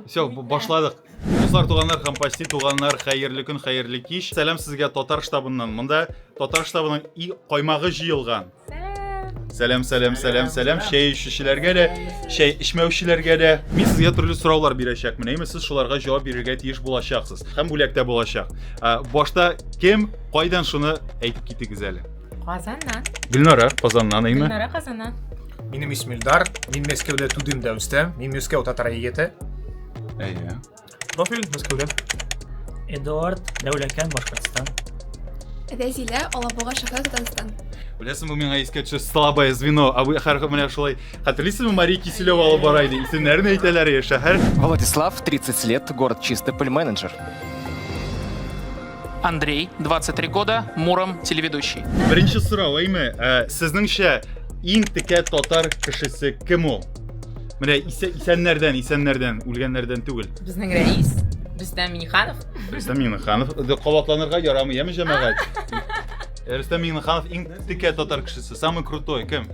Все, башладык. Дуслар, туганнар һәм почти туганнар, хәерле көн, хәерле кич. Сәлам сезгә татар штабыннан. Монда татар штабының и каймагы җыелган. Сәлам, сәлам, сәлам, сәлам. Чәй эчүчеләргә дә, чәй эчмәүчеләргә дә. Мин сезгә төрле сораулар бирәчәкмен. Әйме, сез шуларга җавап бирергә тиеш булачаксыз. Һәм бүләктә булачак. Башта кем, кайдан шуны әйтеп китегез әле. Казаннан. Гөлнара Казаннан әйме? Гөлнара Казаннан. Минем исем Илдар. Мин Мәскәүдә тудым да үстем. Мин Мәскәү татар егете. Әйе. Профиль Мәскәүдә. Эдуард Дәүләкән Башкортстан. Рәзилә Алабуга шәһәре Татарстан. Беләсең, бу миңа искә төшә слабое звено. А вы хәрхәр менә шулай. Хәтерлисезме, Мария Киселева алып бара иде. Исемнәрен әйтәләр я шәһәр. Владислав, 30 лет, город Чистопыль, менеджер. Андрей, 23 года, Муром, телеведущий. Беренче сорау, әйме, ә, сезнеңчә иң текә татар кешесе кем ул? Менә исә, исәннәрдән, исәннәрдән, үлгәннәрдән түгел. Безнең рәис, Рөстәм Миниханов. Рөстәм Миниханов, кабатланырга ярамый, яме җәмәгать. Рөстәм Миниханов иң текә татар кешесе, самый крутой, кем?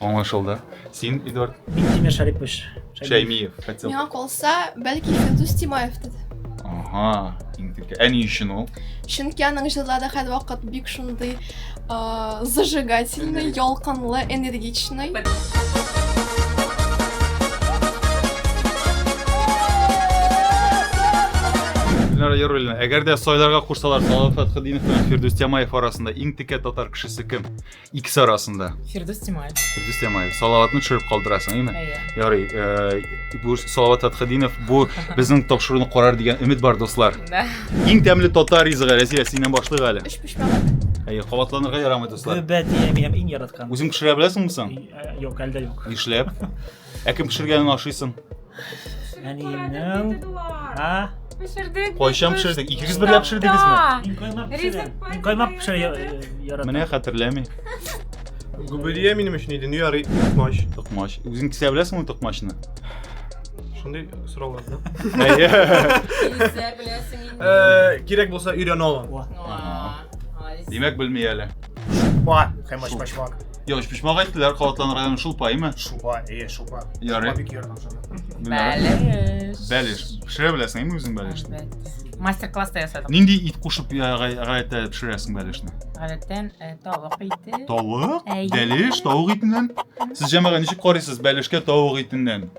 Аңлашылды. Син, Эдуард? Мин Тимер Шарипович. Шәймиев. Миңа калса, бәлки Фирдус Тимаевтыр. Ага, иң тиркә. Ә ни өчен ул? Чөнки аның җырлары һәрвакыт бик шундый зажигательный, ялкынлы, энергичный. Гөлнара Яруллина, әгәр дә сайларга кушсалар, Салават Фәтхетдинов белән Фирдүс Тямаев арасында иң текә татар кешесе кем? икесе арасында фирдүс тимаев фирдүс тимаев салаватны төшереп калдырасың әйме әйе ярый э, бу салават атхадинов бу безнең тапшыруны карар дигән өмет бар дуслар иң тәмле татар ризыгы рәзия синнән башлыйк әле өч пешмәк әйе кабатланырга ярамый дуслар гөбә дия минем иң яраткан үзең пешерә беләсеңме соң э, юк әлдә юк нишләп Ә кем пешергәнен ашыйсың? Әниемнең. А? Пешердек. Кайчан пешердек? Икегез бергә пешердегезме? Мин каймак пешерәм. Мин каймак пешерә яратам. Менә хәтерләми. Гүбелия минем өчен иде, ярый, токмач. Токмач. Үзең кисә беләсеңме токмачны? Шундый сорау алды. Әйе. Кисә беләсең инде. Э, кирәк булса өйрәнә алам. Димәк белми әле. Ба, хәмәш башмак. Йо, пишмага әйттеләр калатлан районы шулпаймы? Шупа, э, шупа. Ярый. Шупа бик ярдәм шуна. Бәлеш. Бәлеш. Пешерә беләсең инде үзең бәлешне? Мастер-класста ясадык. Нинди ит кушып гадәттә пешерәсең бәлешне? Гадәттән э, тавык ите. Тавык? Бәлеш, тавык итеннән? Сез җәмәгать ничек карыйсыз бәлешкә тавык итеннән?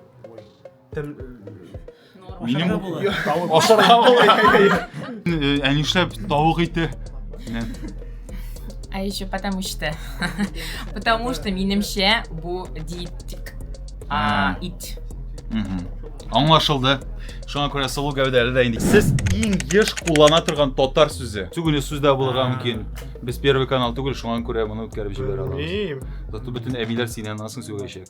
Минем ашарга була. Ә нишләп тавык ите? А еще потому что. Потому что минемчә бу диетик. А, ит. Аңлашылды. Шуңа күрә сылу гәүдәле дә инде. Сез иң еш куллана торган татар сүзе. Түгеле сүз дә булырга мөмкин. Без первый канал түгел, шуңа күрә моны үткәреп җибәрә алабыз. Зато бөтен әбиләр синнән асын сөйләячәк.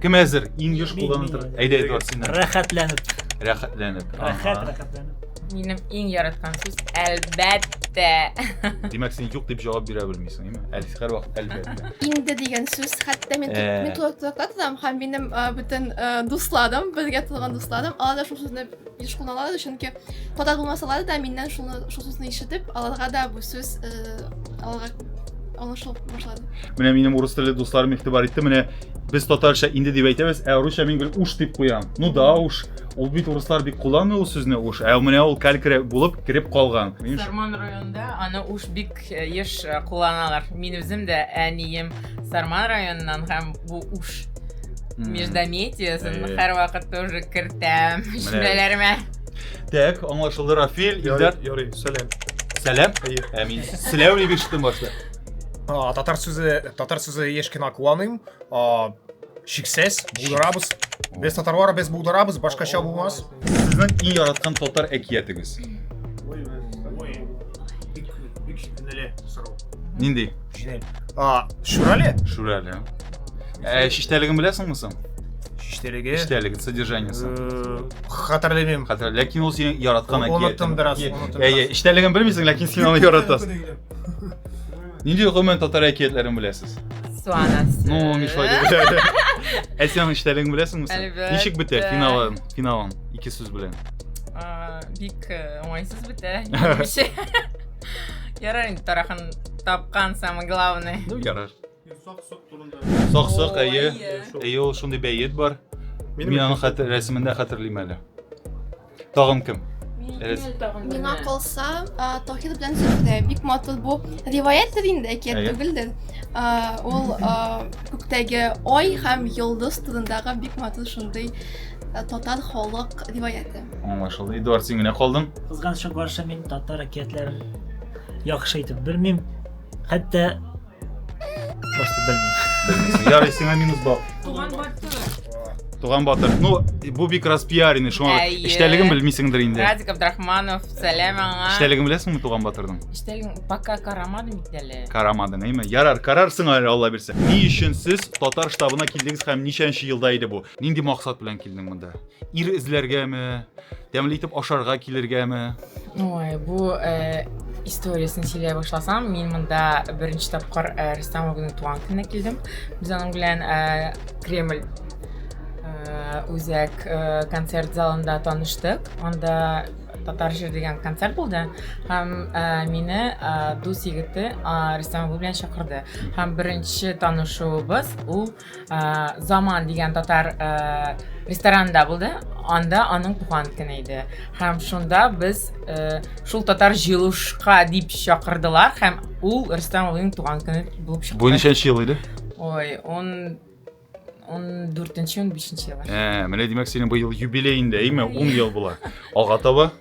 Кем әзер? Иң еш кулланып тора. Әйдә, Эдуард, син. Рәхәтләнеп. Рәхәтләнеп. Рәхәт, рәхәтләнеп. Минем иң яраткан сүз әлбәттә. Димәк, син юк дип җавап бирә белмисең, әйме? Әлис һәр вакыт әлбәттә. Инде дигән сүз, хәтта мин мин тулы тотам һәм минем бөтен дусладым, безгә тулган дусладым, алар да шул сүзне Еш кулланалар, чөнки ката булмасалар да, миннән шуны шул сүзне ишетеп, аларга да бу сүз э, аларга аңлашылып башлады. Менә минем урыс телле дусларым игътибар итте. Менә без татарча инде дип әйтәбез, ә русча мин гел уш дип куям. Ну да уш. Ул бит урыслар бик кулланмый ул сүзне уш. Ә менә ул калькре булып кереп калган. Минем Сарман районында аны уж бик еш кулланалар. Мин үзем дә әнием Сарман районыннан һәм бу уш междометиясын һәрвакыт тоже кертәм җөмләләремә. Так, аңлашылды Рафил, Илдар. Ярый, сәлам. Сәлам. Әмин. Сәлам дип ишеттем башта. Татар сүзе, татар сүзе еш кына куаныйм. А, шиксез, булдырабыз. Без татарлар без булдырабыз, башка ча булмас. Сезнең иң яраткан татар әкиятегез. Ой, ой. Бик бик шикнеле сорау. Нинди? Шинель. А, шурале? Шурале. Ә, шиштәлеген беләсеңме соң? Шиштәлеге. Шиштәлеге содержаниесе. Э, хәтерләмим. Хәтерлә, ләкин ул синең яраткан әкият. Оныттым бераз. Әйе, шиштәлеген белмисең, ләкин син аны яратасың. Нинди гомумән татар әкиятләрен беләсез? Су анасы. Ну, мишла дип. Ә синең эчтәлегең беләсеңме син? Әлбәттә. Ничек бетә финалын, финалын ике сүз белән? А, Бик э, уңайсыз бетә. Нише? Ярар инде тарахан тапкан самое главное. Ну, ярар. Сак-сок турында. Сак-сок, Ой, әйе. әйе. Әйе, ул шундый бәет бар. Мин аны хәтер рәсемендә хәтерлим әле. Тагын кем? Элес. Миңа калса, Тохир белән Зөһрә бик матур бу. Риваяттер инде, әкият түгелдер. Ул күктәге ай һәм йолдыз турындагы бик матур шундый татар халык риваяты. Аңлашылды. Эдуард, син генә калдың. Кызганычка каршы мин татар әкиятләрен яхшы итеп белмим. Хәтта Просто белмим. Ярый, сиңа минус балл. Туган батыр. Туган батыр. Ну, бу бик раз пиарины, шуңа эчтәлеген белмисеңдер инде. Радик Абдрахманов, сәлам аңа. Эчтәлеген беләсеңме туган батырның? Эчтәлеген пока карамадым бит әле. Карамадың, әйме? Ярар, карарсың әле, Алла бирсә. Ни өчен сез татар штабына килдегез һәм ничәнче елда иде бу? Нинди максат белән килдең монда? Ир эзләргәме? Тәмле итеп ашарга килергәме? Ой, бу э, историясен сөйләй башласам, мин монда беренче тапкыр э, Рөстәм абыйның туган көненә килдем. Без аның белән э, Кремль э, үзәк э, концерт залында таныштык. Анда татар җыр дигән концерт булды һәм ә, мине ә, дус егете ә, Рөстәм абый белән чакырды һәм беренче танышуыбыз ул заман дигән татар ресторанында булды анда аның туган көне иде һәм шунда без шул татар җыелышка дип чакырдылар һәм ул рөстәм абыйның туган көне булып чыкты бу ничәнче ел иде ой он он дүртенче он бишенче еллар ә менә димәк синең быел юбилееңдә әйме ун ел була алга таба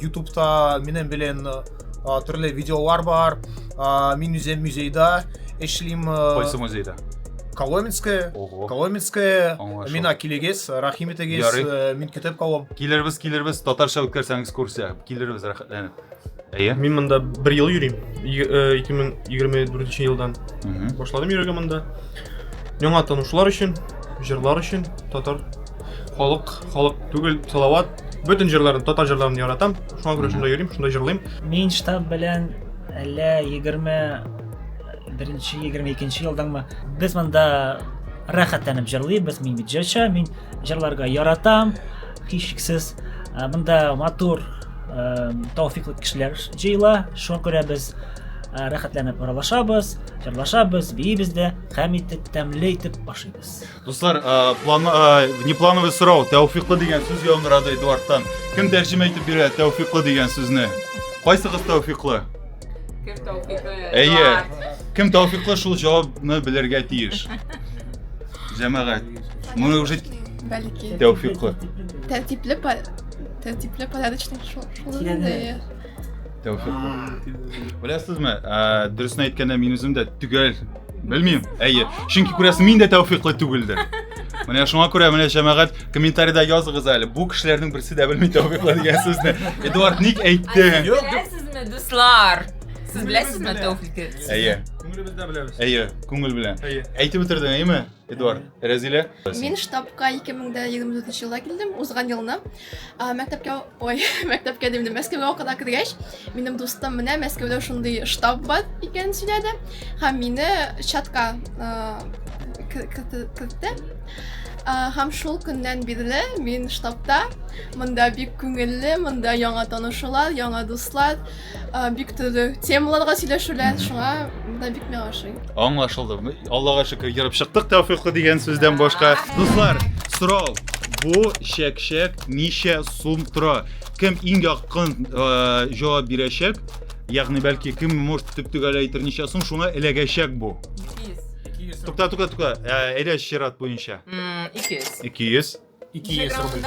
ютубта минем белән төрле видеолар бар мин үзем музейда эшлим кайсы музейда Коломенская, Ого. Коломенская, Аңлашыл. мина килегез, рәхим итегез, Ярый. э, мин көтеп калам. Килербез, килербез, татарча үткәрсәң экскурсия. Килербез рәхәтләнеп. Әйе. Мин монда бер ел йөрим. Й- э, 2024 елдан Мгм. башладым йөрергә монда. Яңа танышулар өчен, җырлар өчен, татар Халык, халык түгел, Салават. Бөтен җырларын, татар җырларын яратам. Шуңа күрә шунда йөрим, шунда җырлыйм. Мин штаб белән әллә 21-нче, 22-нче елдаңмы? Без монда рәхәтләнеп җырлыйбыз. Мин бит җырчы, мин җырларга яратам. Һичшиксез, ә, монда матур, ә, тауфиклы кешеләр җыела. Шуңа күрә без ә, рәхәтләнеп аралашабыз, җырлашабыз, биибез дә, һәм итеп тәмле итеп ашыйбыз. Дуслар, э, план, э, внеплановый сорау, тәүфиклы дигән сүз яңгырады Эдуардтан. Кем тәрҗемә итеп бирә тәүфиклы дигән сүзне? Кайсыгыз тәүфиклы? Кем тәүфиклы? Әйе. Кем тәүфиклы шул җавабны белергә тиеш. Җәмәгать. Моны уже Бәлки. тәүфиклы. Тәртипле, тәртипле, порядочный шул. Тәүфик. Беләсезме, дөресен әйткәндә мин үзем дә төгәл белмим. Әйе, чөнки күрәсең, мин дә тәүфиклы түгелдер. Менә шуңа күрә менә җәмәгать комментариядә языгыз әле. Бу кешеләрнең берсе дә белми тәүфиклы дигән сүзне. Эдуард ник әйтте? Беләсезме, дуслар? Сез беләсезме тәүфикны? Әйе. Күңелебездә беләбез. Әйе, күңел белән. Әйе. Әйтеп бетердең, әйеме? Эдуард, Рәзилә. Мин штабка 2024 елда килдем, узган елны. Мәктәпкә, ой, мәктәпкә димдем, Мәскәүгә укырга кергәч, минем дустым менә Мәскәүдә шундый штаб бар икәнен сөйләде һәм мине чатка кертте. Һәм шул көннән бирле мин штабта. Монда бик күңелле, монда яңа танышулар, яңа дуслар. Бик төрле темаларга сөйләшүләр, шуңа да бик миңа ошый. Аңлашылды. Аллага шөкер, йөреп чыктык тәүфиклы дигән сүздән башка. Дуслар, сорау. Бу чәк-чәк ничә сум тора? Кем иң якын җавап бирәчәк? Ягъни бәлки кем может төп-төгәл әйтер ничә сум, шуңа эләгәчәк бу. 200. Тукта, тукта, тукта. Әйдә чират буенча. 200. 200. 200 рубль.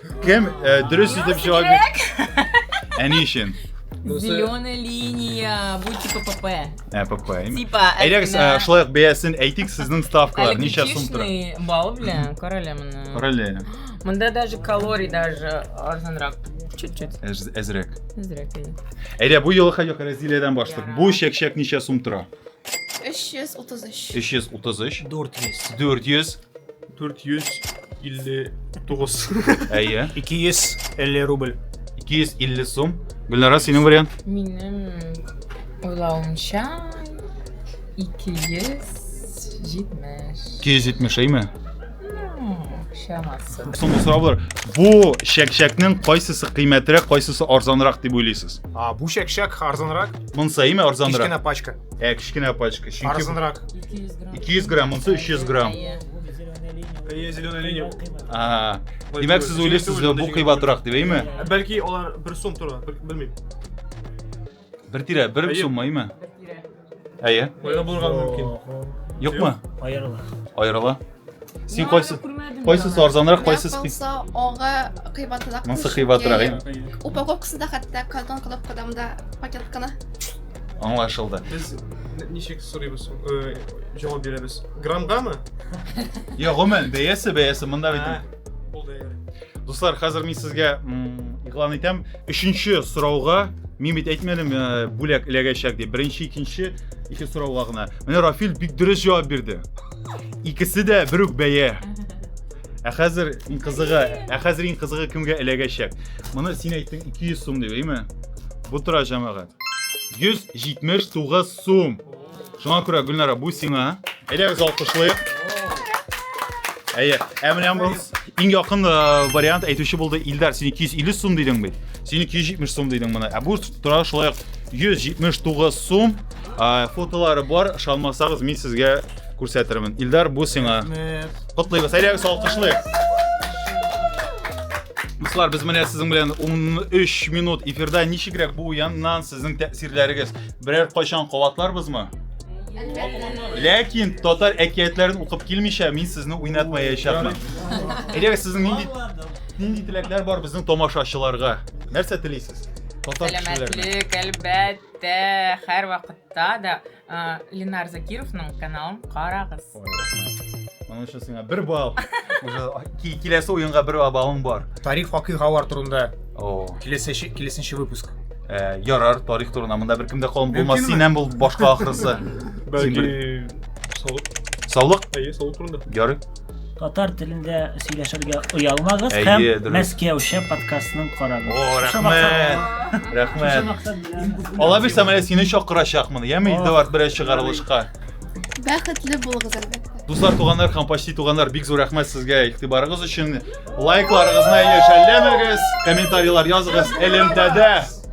Кем? Э, дөрес итеп җавап бир. Әни өчен. Зеленая линия, бу типа ПП. Ә, ПП. именно. Типа, Әйдәгез, ә, шулай ук бәясен әйтик, сезнең ставкалар ничә сум тора? Электричный бал белән, карале моны. Короле. Монда даже калорий даже арзанрак. Чуть-чуть. Әз- Әзрәк. Зря, конечно. Әйдә, бу юлы хәҗәк Разилиядән башлык. Бу чәк-чәк ничә сум тора? 333. 333, 400. 400, 459. Әйе. 250 рубль. 250 сум. Гөлнара, синең вариант? Минем уйлавымча 270. 270 әйме? Шамасы. Соңгы сорау бар. Бу шәкшәкнең кайсысы кыйммәтрәк, кайсысы арзанрак дип уйлыйсыз? А, бу шәкшәк арзанрак. Монсы әйме арзанрак? Кечкенә пачка. Ә кечкенә пачка. Чөнки Арзанрак. 200 грамм. 200 грамм, монысы 300 грамм. Әйе. Әйе, зеленая линия. Ага. Димәк, сез уйлыйсыз, бу кыйбатрак дип, әйме? Ә Бәлки алар бер сум тора, бел- белмим. Бер тирә, бер Әйе. сумма, әйме? Әйе. Аерым булырга мөмкин. Юкмы? Аерыла. Аерыла. Син кайсы кайсы сарзанрак, кайсы хис? Ага, кыйбатрак. Монсы кыйбатрак. Упаковкасы да хәтта картон кылып кадамда пакетканы. Аңлашылды. Без ничек сорыйбыз, э, җавап бирәбез. Грамгамы? Я, гомумән, бәясе, бәясе монда бит. Бул дә. Дуслар, хәзер мин сезгә игълан итәм. Өченче сорауга мин бит әйтмәдем, э, бүләк эләгәчәк дип. Беренче, икенче, ике сорауга гына. Менә Рафил бик дөрес җавап бирде. Икесе дә бер үк бәя. Ә хәзер иң кызыгы, ә хәзер иң кызыгы кемгә эләгәчәк? Моны син әйттең 200 сум дип, әйме? Бу тора җәмәгать. 179 сум. Шуңа күрә Гөлнара, бу сиңа. Әйдәгез алкышлыйк. Әйе. Ә менә бу иң якын э, вариант әйтүче булды Илдар. Син 250 сум дидең бит. Син 270 сум дидең моны. Ә бу тора шулай 179 сум. фотолары бар ышанмасагыз мин сезгә күрсәтермен илдар бу сиңа котлыйбыз әйдәгез алкышлыйк Дуслар, без менә сезнең белән 13 минут эфирда ничегрәк бу уеннан сезнең тәэсирләрегез? Берәр кайчан кабатларбызмы? Ләкин татар әкиятләрен укып килмичә мин сезне уйнатмаячакмын. Әйдәгез сезнең нинди нинди теләкләр бар безнең тамашачыларга? Нәрсә телисез? Татар кешеләренә. Сәламәтлек, әлбәт. Тә, хәр вакытта да Ленар Закировның каналын карагыз. Моның өчен сиңа бер бал. Уже киләсе уенга бер балың бар. Тарих вакыйгалар турында. О. Киләсе киләсенче выпуск. Э, ярар, тарих турында монда беркем дә калын булмас. Синнән бул башка ахрысы. Бәлки саулык. Саулык? Әйе, саулык турында. Ярый. Татар телендә сөйләшергә оялмагыз Әйе, һәм дөрес. Мәскәүчә подкастның карагыз. О, Шушы рәхмәт. максат- шушы Рәхмәт. максат белән- Алла бирсә, менә сине чакырачакмын. Яме О. Эдуард берәр чыгарылышка. Бәхетле булыгыз әлбәттә. Дуслар, туганнар һәм почти туганнар, бик зур рәхмәт сезгә игътибарыгыз өчен. Лайкларыгызны яшәлләмәгез, комментарийлар языгыз. Элемтәдә